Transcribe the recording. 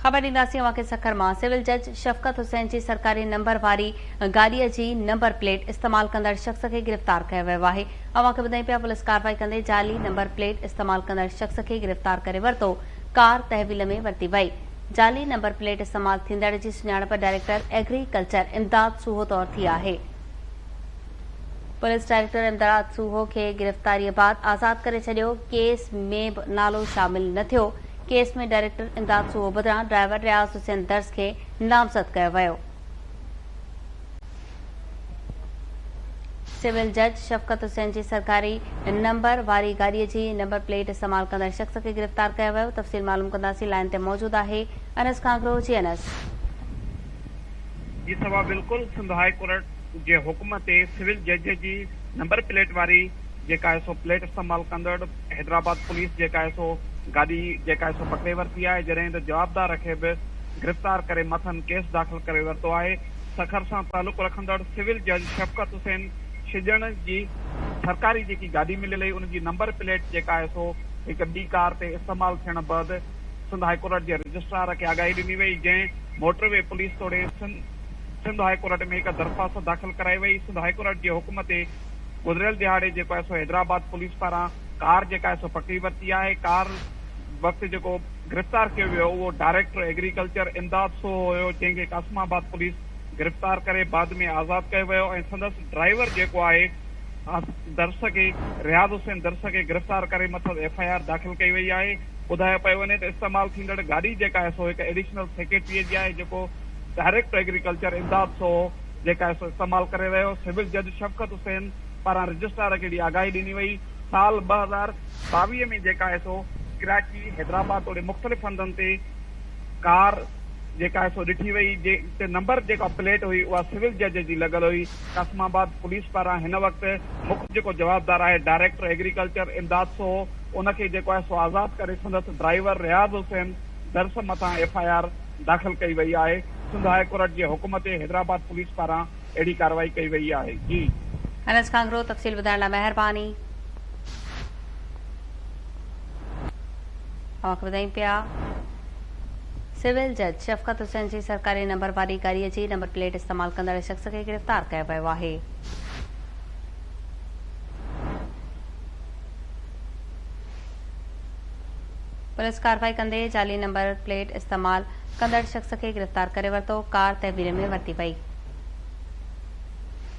خبر ڏينداسين اوهان کي سکر مان سول جج شفقت حسين جي سرڪاري نمبر واري گاڏي جي نمبر پليٽ استعمال ڪندڙ شخص کي گرفتار ڪيو ويو آهي اوهان کي ٻڌائين پيا پوليس ڪارروائي ڪندي جعلي نمبر پليٽ استعمال ڪندڙ شخص کي گرفتار ڪري ورتو ڪار تحويل ۾ ورتي وئي جعلي نمبر پليٽ استعمال ٿيندڙ جي سڃاڻپ director agriculture Imdad Soho طور ٿي آهي. پوليس ڊائريڪٽر امدڙاد سوهو کي گرفتاريء بعد آزاد ڪري ڇڏيو، ڪيس ۾ به نالو شامل نه ٿيو، ڪيس ۾ ڊائريڪٽر امداد سوهو بدران ڊرائيور رياض حسين درس کي نامزد ڪيو ويو. سول جج شفقت حسين جي سرڪاري نمبر واري گاڏي جي نمبر پليٽ استعمال ڪندڙ شخص کي گرفتار ڪيو ويو، تفصيل معلوم ڪنداسين، لائين تي موجود آهي انس ڪانگرو، جي انس. جي سوا بلڪل سنڌ هاء ڪورٽ جي حڪم تي سول جج جي نمبر پليٽ واري جيڪا آهي سو پليٽ استعمال ڪندڙ حيدرآباد پوليس جيڪا آهي سو گاڏي جيڪا آهي سو پڪڙي ورتي آهي جڏهن ته جوابدار کي به گرفتار ڪري مٿن ڪيس داخل ڪري ورتو آهي سکر سان تعلق رکندڙ سول جج شفقت حسين شجڻ جي سرڪاري جيڪي گاڏي مليل هئي ان جي نمبر پليٽ جيڪا آهي سو هڪ ٻي ڪار تي استعمال ٿيڻ بعد سنڌ هاء ڪورٽ جي رجسٽرار کي آگاهي ڏني وئي، جنهن موٽر وي پوليس توڙي سنڌ هاء ڪورٽ ۾ هڪ درخواست داخل ڪرائي وئي، سنڌ هاء ڪورٽ جي حڪم تي گذريل ڏهاڙي جيڪو آء سو حيدرآباد پوليس پاران ڪار جيڪا آء سو پڪڙي ورتي آهي، ڪار وقت جيڪو گرفتار ڪيو ويو اهو ڊائريڪٽر ايگريڪلچر امداد سوهو هيو، جنهن کي قاسم آباد پوليس گرفتار ڪري بعد ۾ آزاد ڪيو ويو ۽ سندس ڊرائيور جيڪو آهي درس کي رياض حسين درس کي گرفتار ڪري مٿس ايف آء آر داخل ڪئي وئي آهي. ٻڌايو پيو وڃي ته استعمال ٿيندڙ گاڏي جيڪا آهي سو هڪ ايڊيشنل سيڪريٽريء جي آهي جيڪو director agriculture Imdad Soho جيڪا آهي سو استعمال ڪري رهيو سول جج شفقت حسين پاران رجسٽرار کي اهڙي آگاهي ڏني وئي سال ٻه هزار ٻاويهه ۾ جيڪا آهي سو ڪراچي حيدرآباد توڙي مختلف هنڌن تي ڪار جيڪا آهي سو ڏٺي وئي جنهن تي نمبر جيڪا پليٽ هئي اها سول جج جي لڳل هئي قاسم آباد پوليس پاران هن وقت مک جيڪو جوابدار آهي ڊائريڪٽر ايگريڪلچر امداد سو ان کي جيڪو آهي سو آزاد ڪري سندس ڊرائيور رياض حسين درس مٿان ايف آء آر داخل ڪئي وئي آهي سنڌ هاء ڪورٽ جي حڪم تي حيدرآباد پوليس پاران اهڙي ڪارروائي ڪئي وئي آهي جي انس ڪانگرو تفصيل ٻڌائڻ لاء مهرباني. اوهان کي ٻڌايون پيا. سول جج شفقت حسين جي سرڪاري نمبر واري گاڏي جي نمبر پليٽ استعمال ڪندڙ شخص کي گرفتار ڪيو ويو آهي. پوليس ڪارروائي ڪندي جعلي نمبر پليٽ استعمال ڪندڙ شخص کي گرفتار ڪري ورتو، ڪار تعمير ۾ ورتي وئي.